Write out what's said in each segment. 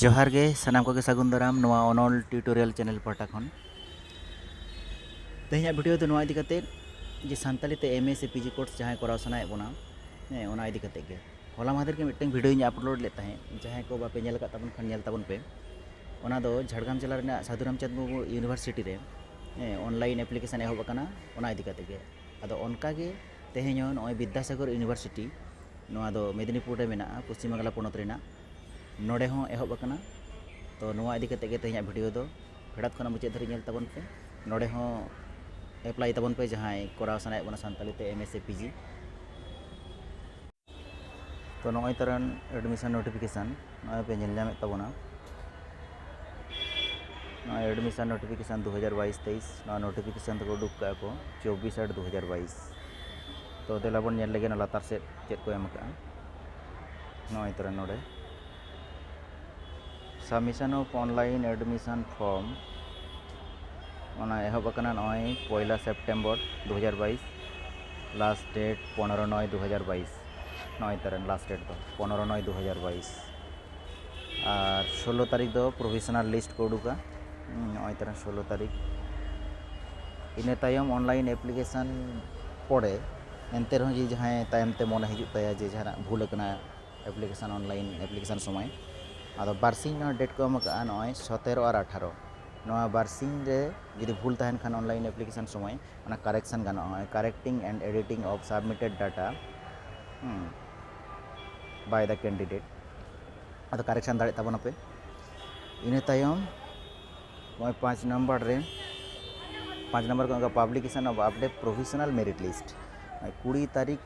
ᱡᱚᱦᱟᱨ ᱜᱮ ᱥᱟᱱᱟᱢ ᱠᱚᱜᱮ ᱥᱟᱹᱜᱩᱱ ᱫᱟᱨᱟᱢ ᱱᱚᱣᱟ ᱚᱱᱚᱞ ᱴᱤᱭᱩᱴᱳᱨᱤᱭᱟᱞ ᱪᱮᱱᱮᱞ ᱯᱟᱦᱴᱟ ᱠᱷᱚᱱ ᱛᱮᱦᱮᱧᱟᱜ ᱵᱷᱤᱰᱤᱭᱳ ᱫᱚ ᱱᱚᱣᱟ ᱤᱫᱤ ᱠᱟᱛᱮ ᱡᱮ ᱥᱟᱱᱛᱟᱲᱤ ᱛᱮ ᱮᱢ ᱮ ᱥᱮ ᱯᱤᱡᱤ ᱠᱳᱨᱥ ᱡᱟᱦᱟᱸᱭ ᱠᱚᱨᱟᱣ ᱥᱟᱱᱟᱭᱮᱫ ᱵᱚᱱᱟ ᱦᱮᱸ ᱚᱱᱟ ᱤᱫᱤ ᱠᱟᱛᱮ ᱜᱮ ᱦᱚᱞᱟ ᱢᱟᱦᱫᱮᱨ ᱜᱮ ᱢᱤᱫᱴᱟᱝ ᱵᱷᱤᱰᱤᱭᱳᱧ ᱟᱯᱞᱳᱰ ᱞᱮᱫ ᱛᱟᱦᱮᱸᱫ ᱡᱟᱦᱟᱸᱭ ᱠᱚ ᱵᱟᱯᱮ ᱧᱮᱞ ᱟᱠᱟᱫ ᱛᱟᱵᱚᱱ ᱠᱷᱟᱱ ᱧᱮᱞ ᱛᱟᱵᱚᱱ ᱯᱮ ᱚᱱᱟ ᱫᱚ ᱡᱷᱟᱲᱜᱨᱟᱢ ᱡᱮᱞᱟ ᱨᱮᱱᱟᱜ ᱥᱟᱹᱫᱷᱩ ᱨᱟᱢᱪᱟᱸᱫᱽ ᱢᱩᱨᱢᱩ ᱤᱭᱩᱱᱤᱵᱷᱟᱨᱥᱤᱴᱤ ᱨᱮ ᱦᱮᱸ ᱚᱱᱞᱟᱭᱤᱱ ᱮᱯᱞᱤᱠᱮᱥᱚᱱ ᱮᱦᱚᱵ ᱟᱠᱟᱱᱟ ᱚᱱᱟ ᱤᱫᱤ ᱠᱟᱛᱮ ᱜᱮ ᱟᱫᱚ ᱚᱱᱠᱟ ᱜᱮ ᱛᱮᱦᱮᱧ ᱦᱚᱸ ᱱᱚᱜᱼᱚᱭ ᱵᱤᱫᱽᱫᱟᱥᱟᱜᱚᱨ ᱤᱭᱩᱱᱤᱵᱷᱟᱨᱥᱤᱴᱤ ᱱᱚᱣᱟ ᱫᱚ ᱢᱮᱫᱽᱱᱤᱯᱩᱨ ᱨᱮ ᱢᱮᱱᱟᱜᱼᱟ ᱯᱚᱥᱪᱤᱢ ᱵᱟᱝᱞᱟ ᱯᱚᱱᱚᱛ ᱨᱮᱱᱟᱜ ᱱᱚᱰᱮ ᱦᱚᱸ ᱮᱦᱚᱵ ᱟᱠᱟᱱᱟ ᱛᱚ ᱱᱚᱣᱟ ᱤᱫᱤ ᱠᱟᱛᱮᱫ ᱜᱮ ᱛᱮᱦᱮᱧᱟᱜ ᱵᱷᱤᱰᱤᱭᱳ ᱫᱚ ᱯᱷᱮᱰᱟᱛ ᱠᱷᱚᱱᱟᱜ ᱢᱩᱪᱟᱹᱫ ᱫᱷᱟᱹᱨᱤᱡ ᱧᱮᱞ ᱛᱟᱵᱚᱱ ᱯᱮ ᱱᱚᱰᱮ ᱦᱚᱸ ᱮᱯᱞᱟᱭ ᱛᱟᱵᱚᱱ ᱯᱮ ᱡᱟᱦᱟᱸᱭ ᱠᱚᱨᱟᱣ ᱥᱟᱱᱟᱭᱮᱫ ᱵᱚᱱᱟ ᱥᱟᱱᱛᱟᱲᱤ ᱛᱮ ᱮᱢ ᱮᱥ ᱥᱮ ᱯᱤ ᱡᱤ ᱛᱚ ᱱᱚᱜᱼᱚᱭ ᱛᱟᱨᱟᱱ ᱮᱰᱢᱤᱥᱚᱱ ᱱᱳᱴᱤᱯᱷᱤᱠᱮᱥᱟᱱ ᱱᱚᱜᱼᱚᱭ ᱯᱮ ᱧᱮᱞ ᱧᱟᱢᱮᱫ ᱛᱟᱵᱚᱱᱟ ᱱᱚᱜᱼᱚᱭ ᱮᱰᱢᱤᱥᱚᱱ ᱱᱳᱴᱤᱯᱷᱤᱠᱮᱥᱟᱱ ᱫᱩ ᱦᱟᱡᱟᱨ ᱵᱟᱭᱤᱥ ᱛᱮᱭᱤᱥ ᱱᱚᱣᱟ ᱱᱳᱴᱤᱯᱷᱤᱠᱮᱥᱟᱱ ᱫᱚᱠᱚ ᱩᱰᱩᱠ ᱠᱟᱜᱼᱟ ᱠᱚ ᱪᱚᱵᱵᱤᱥ ᱟᱴ ᱫᱩ ᱦᱟᱡᱟᱨ ᱵᱟᱭᱤᱥ ᱛᱚ ᱫᱮᱞᱟ ᱵᱚᱱ ᱧᱮᱞ ᱞᱮᱜᱮ ᱱᱚᱣᱟ ᱞᱟᱛᱟᱨ ᱥᱮᱫ ᱪᱮᱫ ᱠᱚ ᱮᱢ ᱠᱟᱜᱼᱟ ᱱᱚᱜᱼᱚᱭ ᱛᱟᱨᱟᱱ ᱱᱚᱰᱮ submission of online admission form ᱚᱱᱟ ᱮᱦᱚᱵ ᱟᱠᱟᱱᱟ ᱱᱚᱜᱼᱚᱭ ᱯᱚᱭᱞᱟ ᱥᱮᱯᱴᱮᱢᱵᱚᱨ ᱫᱩ ᱦᱟᱡᱟᱨ ᱵᱟᱭᱤᱥ ᱞᱟᱥᱴ ᱰᱮᱴ ᱯᱚᱱᱮᱨᱚ ᱱᱚᱭ ᱫᱩ ᱦᱟᱡᱟᱨ ᱵᱟᱭᱤᱥ ᱱᱚᱜᱼᱚᱭ ᱛᱚᱨᱟᱝ ᱞᱟᱥᱴ ᱰᱮᱴ ᱫᱚ ᱯᱚᱱᱮᱨᱚ ᱱᱚᱭ ᱫᱩ ᱦᱟᱡᱟᱨ ᱵᱟᱭᱤᱥ ᱟᱨ ᱥᱳᱞᱞᱳ ᱛᱟᱹᱨᱤᱠᱷ ᱫᱚ ᱯᱨᱚᱵᱷᱤᱥᱚᱱᱟᱞ ᱞᱤᱥᱴ ᱠᱚ ᱩᱰᱩᱠᱟ ᱱᱚᱜᱼᱚᱭ ᱛᱚᱨᱟᱝ ᱥᱳᱞᱞᱳ ᱛᱟᱹᱨᱤᱠᱷ ᱤᱱᱟᱹ ᱛᱟᱭᱚᱢ ᱚᱱᱞᱟᱭᱤᱱ ᱮᱯᱞᱤᱠᱮᱥᱚᱱ ᱯᱚᱨᱮ ᱮᱱᱛᱮ ᱨᱮᱦᱚᱸ ᱡᱩᱫᱤ ᱡᱟᱦᱟᱸᱭ ᱛᱟᱭᱚᱢ ᱛᱮ ᱢᱚᱱᱮ ᱦᱤᱡᱩᱜ ᱛᱟᱭᱟ ᱡᱮ ᱡᱟᱦᱟᱱᱟᱜ ᱵᱷᱩᱞ ᱟᱠᱟᱱᱟ ᱮᱯᱞᱤᱠᱮᱥᱚᱱ ᱚᱱᱞᱟᱭᱤᱱ ᱮᱯᱞᱤᱠᱮᱥᱚᱱ ᱥᱚᱢᱚᱭ ᱟᱫᱚ ᱵᱟᱨᱥᱤᱧ ᱱᱚᱣᱟ ᱰᱮᱴ ᱠᱚ ᱮᱢ ᱟᱠᱟᱫᱼᱟ ᱱᱚᱜᱼᱚᱭ ᱥᱚᱛᱮᱨᱚ ᱟᱨ ᱟᱴᱷᱟᱨᱚ ᱱᱚᱣᱟ ᱵᱟᱨᱥᱤᱧ ᱨᱮ ᱡᱩᱫᱤ ᱵᱷᱩᱞ ᱛᱟᱦᱮᱱ ᱠᱷᱟᱱ ᱚᱱᱞᱟᱭᱤᱱ ᱮᱯᱞᱤᱠᱮᱥᱚᱱ ᱥᱚᱢᱚᱭ ᱚᱱᱟ ᱠᱟᱨᱮᱠᱥᱚᱱ ᱜᱟᱱᱚᱜᱼᱟ ᱱᱚᱜᱼᱚᱭ correcting and editing of submitted data by the candidate ᱟᱫᱚ ᱠᱟᱨᱮᱠᱥᱚᱱ ᱫᱟᱲᱮᱭᱟᱜ ᱛᱟᱵᱚᱱᱟᱯᱮ ᱤᱱᱟᱹ ᱛᱟᱭᱚᱢ ᱱᱚᱜᱼᱚᱭ ᱯᱟᱸᱪ ᱱᱟᱢᱵᱟᱨ ᱨᱮ ᱯᱟᱸᱪ ᱱᱟᱢᱵᱟᱨ ᱠᱚ publication of update professional merit list ᱠᱩᱲᱤ ᱛᱟᱹᱨᱤᱠᱷ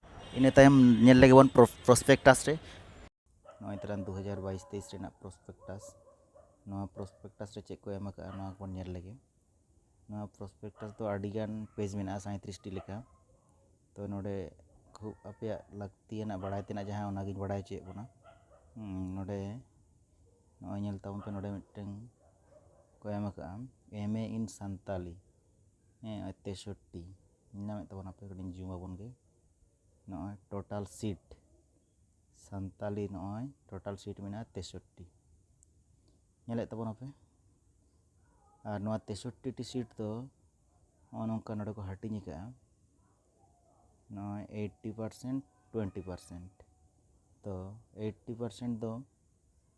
ᱤᱱᱟᱹ ᱛᱟᱭᱚᱢ ᱧᱮᱞ ᱞᱮᱜᱮ ᱵᱚᱱ ᱯᱨᱚᱥᱯᱮᱠᱴᱟᱥ ᱨᱮ ᱱᱚᱜᱼᱚᱭ ᱛᱟᱞᱟᱝ ᱫᱩ ᱦᱟᱡᱟᱨ ᱵᱟᱭᱤᱥ ᱛᱮᱭᱤᱥ ᱨᱮᱱᱟᱜ ᱯᱨᱚᱥᱯᱮᱠᱴᱟᱥ ᱱᱚᱣᱟ ᱯᱨᱚᱥᱯᱮᱠᱴᱟᱥ ᱨᱮ ᱪᱮᱫ ᱠᱚ ᱮᱢ ᱟᱠᱟᱫᱼᱟ ᱱᱚᱣᱟ ᱠᱚᱵᱚᱱ ᱧᱮᱞ ᱞᱮᱜᱮ ᱱᱚᱣᱟ ᱯᱨᱚᱥᱯᱮᱠᱴᱟᱥ ᱫᱚ ᱟᱹᱰᱤᱜᱟᱱ ᱯᱮᱡᱽ ᱢᱮᱱᱟᱜᱼᱟ ᱥᱟᱸᱭᱛᱨᱤᱥᱴᱤ ᱞᱮᱠᱟ ᱛᱚ ᱱᱚᱰᱮ ᱠᱷᱩᱵ ᱟᱯᱮᱭᱟᱜ ᱞᱟᱹᱠᱛᱤᱭᱟᱱᱟᱜ ᱵᱟᱲᱟᱭ ᱛᱮᱱᱟᱜ ᱡᱟᱦᱟᱸ ᱚᱱᱟᱜᱤᱧ ᱵᱟᱲᱟᱭ ᱦᱚᱪᱚᱭᱮᱫ ᱵᱚᱱᱟ ᱱᱚᱰᱮ ᱱᱚᱜᱼᱚᱭ ᱧᱮᱞ ᱛᱟᱵᱚᱱ ᱯᱮ ᱱᱚᱰᱮ ᱢᱤᱫᱴᱟᱝ ᱠᱚ ᱮᱢ ᱟᱠᱟᱫᱼᱟ ᱮᱢ ᱮ ᱤᱱ ᱥᱟᱱᱛᱟᱞᱤ ᱦᱮᱸ ᱛᱮᱥᱚᱴᱴᱤ ᱧᱟᱢᱮᱫ ᱛᱟᱵᱚᱱᱟ ᱯᱮ ᱠᱟᱹᱴᱤᱡ ᱡᱩᱢ ᱟᱵᱚᱱ ᱜᱮ ᱱᱚᱜᱼᱚᱭ ᱴᱳᱴᱟᱞ ᱥᱤᱴ ᱥᱟᱱᱛᱟᱞᱤ ᱱᱚᱜᱼᱚᱭ ᱴᱳᱴᱟᱞ ᱥᱤᱴ ᱢᱮᱱᱟᱜᱼᱟ ᱛᱮᱥᱚᱴᱴᱤ ᱧᱮᱞᱮᱫ ᱛᱟᱵᱚᱱᱟ ᱯᱮ ᱟᱨ ᱱᱚᱣᱟ ᱛᱮᱥᱚᱴᱴᱤ ᱴᱤ ᱥᱤᱴ ᱫᱚ ᱱᱚᱜᱼᱚ ᱱᱚᱝᱠᱟ ᱱᱚᱰᱮ ᱠᱚ ᱦᱟᱹᱴᱤᱧ ᱟᱠᱟᱫᱼᱟ ᱱᱚᱜᱼᱚᱭ ᱮᱭᱤᱴᱴᱤ ᱯᱟᱨᱥᱮᱱᱴ ᱴᱩᱭᱮᱱᱴᱤ ᱯᱟᱨᱥᱮᱱᱴ ᱛᱚ ᱮᱭᱤᱴᱴᱤ ᱯᱟᱨᱥᱮᱱᱴ ᱫᱚ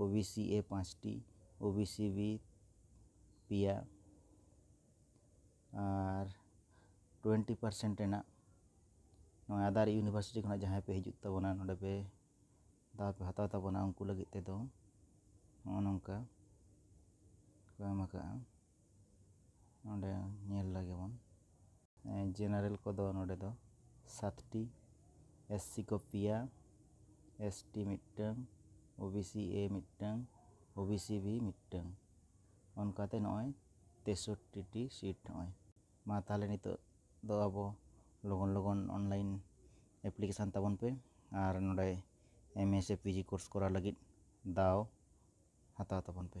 ᱳ ᱵᱤ ᱥᱤ ᱮ ᱯᱟᱸᱪᱴᱤ ᱳ ᱵᱤ ᱥᱤ ᱵᱤ ᱯᱮᱭᱟ ᱟᱨ ᱴᱩᱭᱮᱱᱴᱤ ᱯᱟᱨᱥᱮᱱᱴ ᱨᱮᱱᱟᱜ ᱱᱚᱣᱟ ᱟᱫᱟᱨ ᱤᱭᱩᱱᱤᱵᱷᱟᱨᱥᱤᱴᱤ ᱠᱷᱚᱱᱟᱜ ᱡᱟᱦᱟᱸᱭ ᱯᱮ ᱦᱤᱡᱩᱜ ᱛᱟᱵᱚᱱᱟ ᱱᱚᱰᱮ ᱯᱮ ᱫᱟᱣ ᱯᱮ ᱦᱟᱛᱟᱣ ᱛᱟᱵᱚᱱᱟ ᱩᱱᱠᱩ ᱞᱟᱹᱜᱤᱫ ᱛᱮᱫᱚ ᱱᱚᱜᱼᱚ ᱱᱚᱝᱠᱟ ᱠᱚ ᱮᱢ ᱠᱟᱜᱼᱟ ᱱᱚᱸᱰᱮ ᱧᱮᱞ ᱞᱮᱜᱮ ᱵᱚᱱ ᱡᱮᱱᱟᱨᱮᱞ ᱠᱚᱫᱚ ᱱᱚᱸᱰᱮ ᱫᱚ ᱥᱟᱛᱴᱤ ᱮᱥ ᱥᱤ ᱠᱚ ᱯᱮᱭᱟ ᱮᱥ ᱴᱤ ᱢᱤᱫᱴᱟᱹᱝ ᱳ ᱵᱤ ᱥᱤ ᱮ ᱢᱤᱫᱴᱟᱹᱝ ᱳ ᱵᱤ ᱥᱤ ᱵᱤ ᱢᱤᱫᱴᱟᱹᱝ ᱚᱱᱠᱟᱛᱮ ᱱᱚᱜᱼᱚᱭ ᱛᱮᱥᱚᱴᱴᱤ ᱴᱤ ᱥᱤᱴ ᱱᱚᱜᱼᱚᱭ ᱢᱟ ᱛᱟᱦᱚᱞᱮ ᱱᱤᱛᱚᱜ ᱫᱚ ᱟᱵᱚ ᱞᱚᱜᱚᱱ ᱞᱚᱜᱚᱱ ᱚᱱᱞᱟᱭᱤᱱ ᱮᱯᱞᱤᱠᱮᱥᱚᱱ ᱛᱟᱵᱚᱱ ᱯᱮ ᱟᱨ ᱱᱚᱸᱰᱮ ᱮᱢ ᱮ ᱥᱮ ᱯᱤ ᱡᱤ ᱠᱳᱨᱥ ᱠᱚᱨᱟᱣ ᱞᱟᱹᱜᱤᱫ ᱫᱟᱣ ᱦᱟᱛᱟᱣ ᱛᱟᱵᱚᱱ ᱯᱮ